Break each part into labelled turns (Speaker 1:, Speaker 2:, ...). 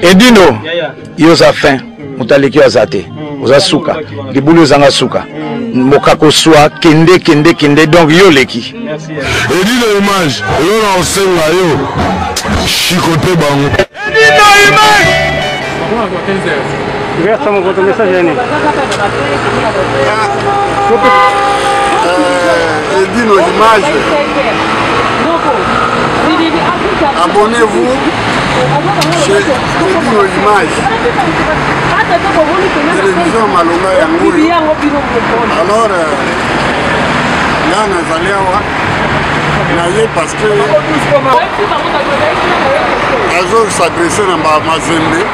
Speaker 1: edino yo oza fin moto aleki yo aza te oza suka libulu ezanga suka moka koswa kende kende kende donc yo oleki edino
Speaker 2: image yo na osenga yo chikote bango edino
Speaker 1: image
Speaker 3: Versa mon votre message yani. Euh,
Speaker 2: Edino l'image. Abonnez-vous chez Edino l'image. Télévision Malonga yango. Alors euh, là nazali awa na ye parce que azo s'adresse na mazembe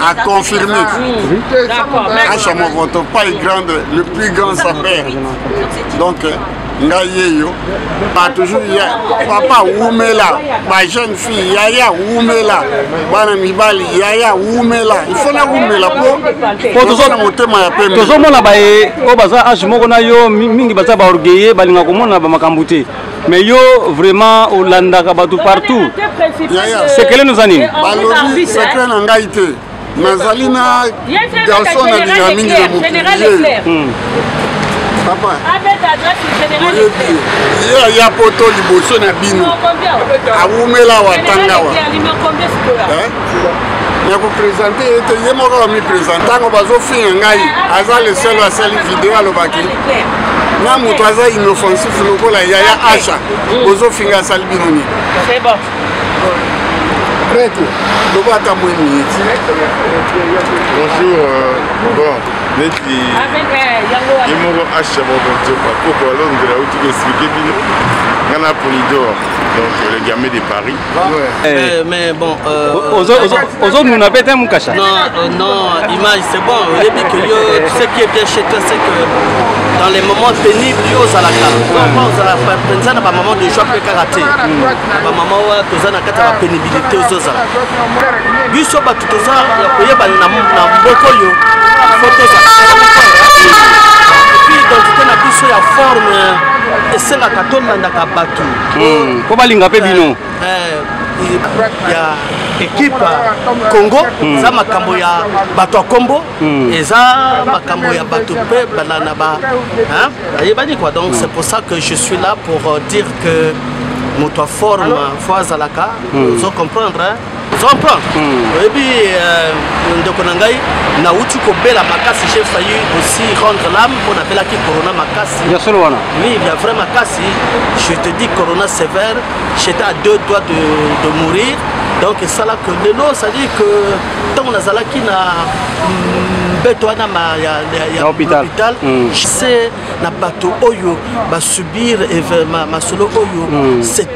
Speaker 2: A confirmé. À Chamovoto, pas grand, le plus grand sapeur. Donc, ngai yeyo ba toujours ya papa wumela ba jeune fille yaya wumela bana mibali yaya wumela ifo na wumela po po toza na motema ya pembe tozomona baye
Speaker 3: oyo baza age moko na yo mingi baza ba orgueilleux balinga komona ba makambo te mais yo vraiment olandaka bato partout sekele noza nini balobi sekre
Speaker 2: na ngai te nazali na garçon na linga mingi na mokiliye hmm. papa oyebi ye aya poto liboso na bino awumela watangawa nakopresente ye te ye moko bamipresente ntango bazofinga ngai aza leselo asali video alobaki na moto aza inoffensif lokola yaya asha bozofinga asali bino nini
Speaker 4: prêtre
Speaker 2: loba ata mwe miniti bonjour euh, bon neti ye moko asha bobojopa koko alondela auti koexplike bino nga na polidor donc le gamme de paris Eh. mais
Speaker 4: bon
Speaker 3: ozonuna mpe te mukasha non euh, non
Speaker 4: image c'est bon oyebi que yo tu sais qui est bien chez toi c'est que dans les moments pénibles yo ozalaka vraiment ozala mpenza na bamama de joie mpe kaka te bamama oyo toza na kati ya bapénibilité ozozala biso bato toza ya koyebana na mboka oyo fo tozala epuis identité na biso ya forme esengaka tolandaka bato hmm. po balinga
Speaker 3: mpe bino
Speaker 4: ya ekipe congo hmm. eza makambo ya bato ya kombo hmm. eza makambo ya bato mpe bana na ba bayebani quoi donc c'est pour ça que je suis là pour euh, dire que moto aforme fo azalaka ozo comprendre comprendre hmm. oyebi euh, ndeko na ngai nauti kobela makasi j'ai failli aussi rendre l'âme mpo nabelaki corona makasi ya solo wana oui
Speaker 3: ya vrai makasi
Speaker 4: je te dis corona sévère j'étais à deux doigts de, de mourir donc esala que lelo c'est-à-dire que ntango nazalaki na mm, mbeto wana ya hôpital hmm. je sais na bato oyo basubir masolo oyo hmm.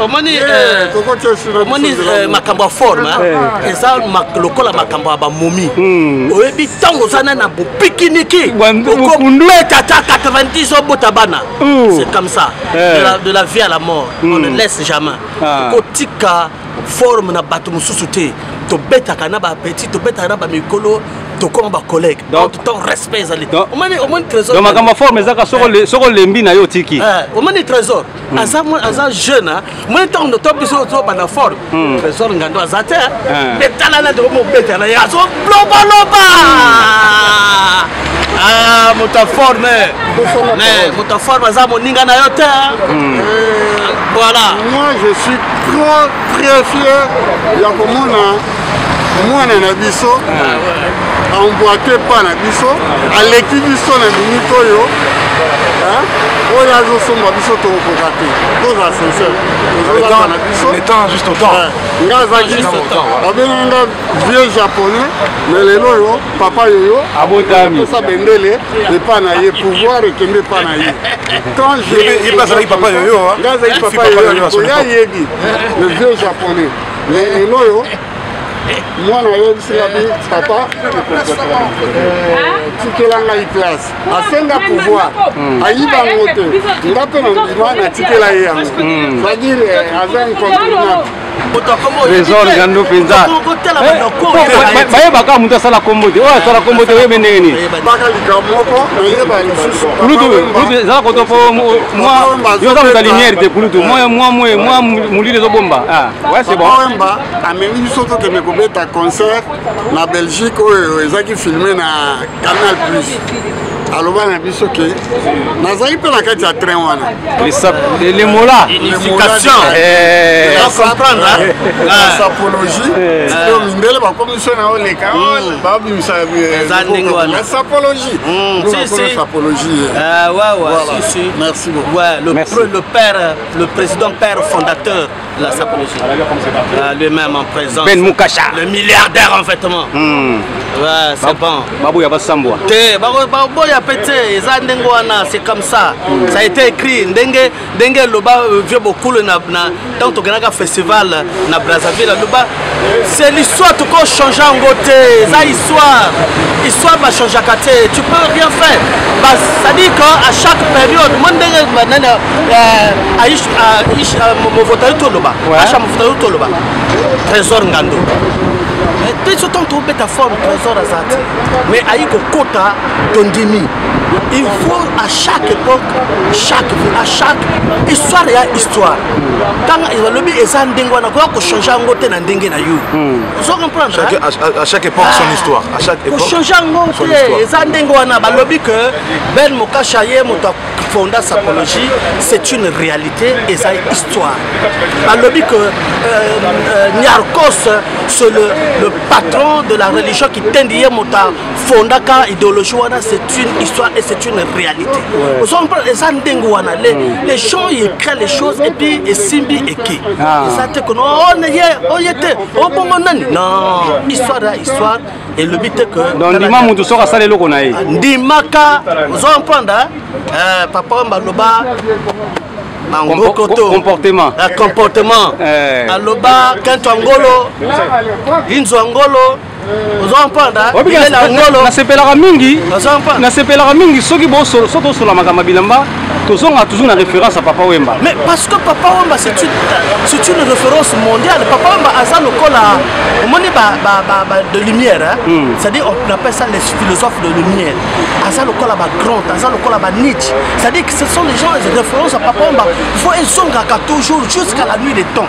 Speaker 4: omoni omoni makambo ya forme eza lokola makambo ya bamomi hmm. oyebi ntango oza na na bopikiniki okobeta ata 90 obota bana hmm. c'est comme ça eh. de la vie à la mort on hmm. ne laisse jamais ah. okotika forme na bato mosusu te tobetaka na baapeti tobetaka na bamikolo tokoma bacollègue to respect ezali omoni trésor makambo ya forme ezaka
Speaker 3: soko eh. olembi na yo otiki eh, omoni trésor
Speaker 4: Hmm. aza aza jeune hein. moi ntango ndo to biso tozobanda fort hmm. tresor ngando aza te hmm. mpe tala na ndeko mobeta na ye azolobaloba ah, moto ya forme moto ya forme aza moninga na yo te euh, voilà moi je suis
Speaker 2: trop très fier ya komona mwana na biso emboite pa na biso aleki biso na minute oyo oyo azosomba biso tokokoka te toza sincere tozolaka na biso
Speaker 1: nga azaki
Speaker 2: babengaki nga vieux japonais me lelo oyo papa yoyo abotamisa bendele epa na ye pouvoir ekende epa na ye nga azalaki
Speaker 1: papa yoyo
Speaker 2: koya yebi le vieux japonais mais lelo oyo mwana ayebisi nga bi papa tikela ngai place asenga pouvoir ayiba yango te nga mpe na ndima natikela ye yango sadire aza incontournable trésor
Speaker 3: ngando mpenza bayebaka moto asala kombo te oyo asala kombo te oyebe ndenge nini
Speaker 2: kulutu ezala
Speaker 3: koto mpo yo oza moto ya lumière te kulutu mwa mwa mwa molili ezobomba ah, wemba amemi
Speaker 2: biso tokende kobeta concert na belgique oyo ezalaki filme na canal plus aloba na biso ke nazali mpe na kati ya train wana
Speaker 3: lemola
Speaker 4: sapologie
Speaker 2: tito mindele bakomiso na oleka babimisa sapologie sapologie merci beaucoup le père
Speaker 4: le président père fondateur de la sapologie. Euh, Lui-même en présence. Ben Mukasha. Le
Speaker 3: milliardaire en
Speaker 4: vêtements. Mm. Ouais, c'est bon. Babou ya basambwa.
Speaker 3: Te, babo babo
Speaker 4: ya pete, eza ndenge wana, c'est comme ça. Mm. Ça a été écrit ndenge ndenge loba euh, vieux bokulu na na tant que festival na Brazzaville loba c'est l'histoire toko change yango te eza histoire histoire bachangeaka te tu peux rien faire c'est-à-dire que à chaque période mo ndenge nani aish movotali toloba asha movotali toloba trésor ngando te biso ntango tobeta forme trésor aza te mais ayi kokota tondimi il faut à chaque époque chaque vie à chaque histoire ya histoire tanga balobi eza ndenge wana koya kochange yango te na ndenge na yo hmm. ozo comprendre à chaque époque
Speaker 1: son ah. histoire à chaque époque kochange yango te
Speaker 4: eza ndenge wana balobi que ben mokasha ye moto fonda sapologie c'est une réalité eza histoire balobi que euh, euh, niarcos c'est le, le patron de la religion kitendi ye moto fondaka idéologie wana c'est une histoire et c'est une réalité ozompona eza ndenge wana les gens écrit les choses et puis esimbi eke eza te kono oye oye te obongo nani non histoire ya histoire elobi te que donc ndima moto soki asala
Speaker 3: eloko na ye ndimaka
Speaker 4: ozompona papa wamba loba bangokoto comportement comportement aloba kento angolo inzo angolo nasepelaka mingi
Speaker 3: nasepelaka mingi soki soki osola makambo ya bilamba tozonga toujours na référence ya papa wemba mais parce que papa
Speaker 4: wemba c'est une, une référence mondiale papa wemba aza lokola omoni ba, ba, ba, ba, de lumière hein? mm. c'est à dire on appelle ça les philosophes de lumière aza lokola ba grand aza lokola ba nietzsche c'est à dire que ce sont les gens les références ya papa wemba il faut ezongaka toujours jusqu'à la nuit des temps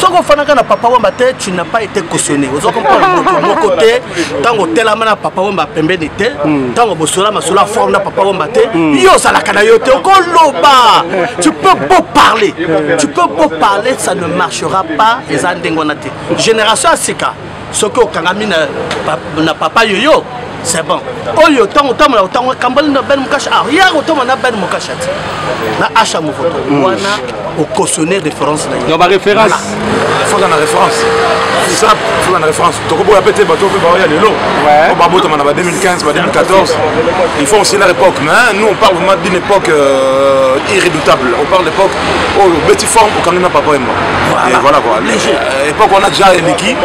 Speaker 4: soki ofanaka na papa wemba te tu n'a pas été cautionné ozo comprendre moto moko te ntango otelama na papa wemba pembeni te ntango hmm. bosola masolo ya forme na papa wemba te hmm. yo ozalaka na yo te okoloba tu peux beau parler tu peux beau parler ça ne marchera pas eza ndenge wana te génération ya sika soki okangami na, na papa yoyo c'est bon oyo ntango otambola otango ekambali na ben mokasha ah ya kotoma na ben mokasha ti na asha movoto mm. wana okosone référence na yo baréférence
Speaker 3: foza na
Speaker 5: référence sap foza na référence tokoboya mpe te bato mpe baoya lelo po babotama na ba 2015 ba 2014 il faut aussi leur époque mais nous on parle vraiment d'une époque euh, irrédoutable on parle d'époque oyo oh, beti forme okangi na papa emba voilà quoi eh, epoque wana ja eleki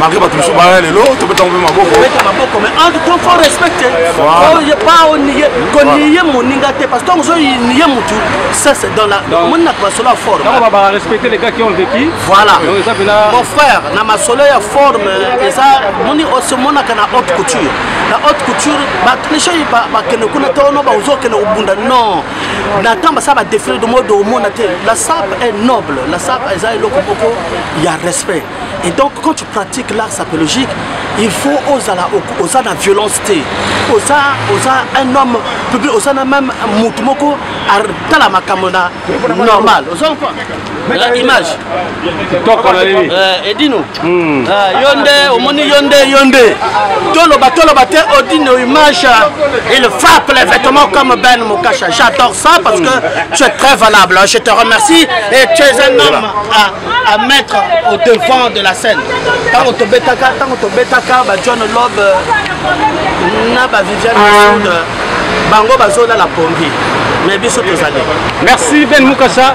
Speaker 5: malgré bato mosusu baya lelo tobetaka mpe
Speaker 4: mabokooniye moninga te parce tango ozoniye motu ça c'est dans la omoni na masolo ya forme
Speaker 3: voilà
Speaker 4: mon frère na masolo ya forme eza moni osemonaka na haute couture na haute couture bato nishoi bakende kuna te ono baozokende kobunda non na ntango basala badefile de mode omona te la sap est noble la sap eza eloko moko ya respect et donc quand tu pratiques l'art sapologique il faut ozala oza na violence te oza oza un homme public oza na même motu moko atala makambo na normal oza na image kitoko na nini eh, edino hmm. ah, yo nde omoni yo nde yo nde toloba toloba te odino image euh, il frappe les vêtements comme ben mokasha j'adore ça parce que tu es très valable je te remercie et tu es un homme à, à mettre au devant de la scène ntango tobetaka ntango tobetaka ba john lob euh, na ba viviane sud bango bazolala pongi mais biso tozali merci ben
Speaker 3: mukasha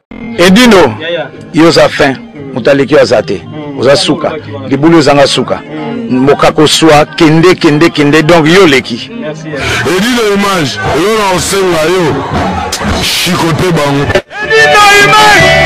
Speaker 1: edino yo oza fin moto aleki yo aza te oza suka libulu ezanga suka mboka koswa kende kende kende donc yo oleki edino
Speaker 6: image elona osenga yo chikote bango
Speaker 1: edino
Speaker 6: image